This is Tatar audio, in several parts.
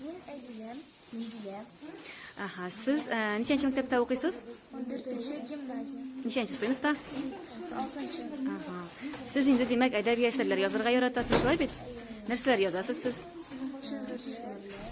Мин Әдилә, Миндилә. Ага, сез ә, ничәнче мәктәптә укыйсыз? 14-нче гимназия. Ничәнче сыйныфта? 6-нчы. Ага. Сез инде димәк әдәби әсәрләр язарга яратасыз, шулай бит? Нәрсәләр язасыз сез?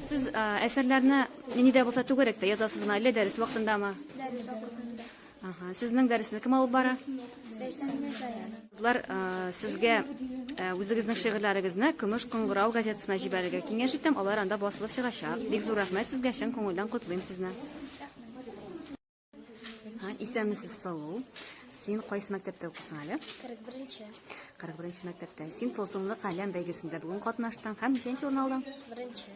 Сез ә, әсәрләрне нидә булса түгәрәктә язасызмы, әллә дәрес вакытындамы? Дәрес вакытында. Ага, сезнең дәресне кем алып бара? Кызлар, э, сезгә э, үзегезнең шигырьләрегезне Көмеш кыңгырау газетасына җибәрергә киңәш итәм. Алар анда басылып чыгачак. Бик зур рәхмәт сезгә, чын күңелдән котлыйм сезне. Ха, исәнмесез, Салу. Син кайсы мәктәптә укыйсың әле? 41-нче. 41-нче мәктәптә. Син Тылсымлы каләм бәйгесендә бүген катнаштың һәм ничәнче урын алдың? Беренче.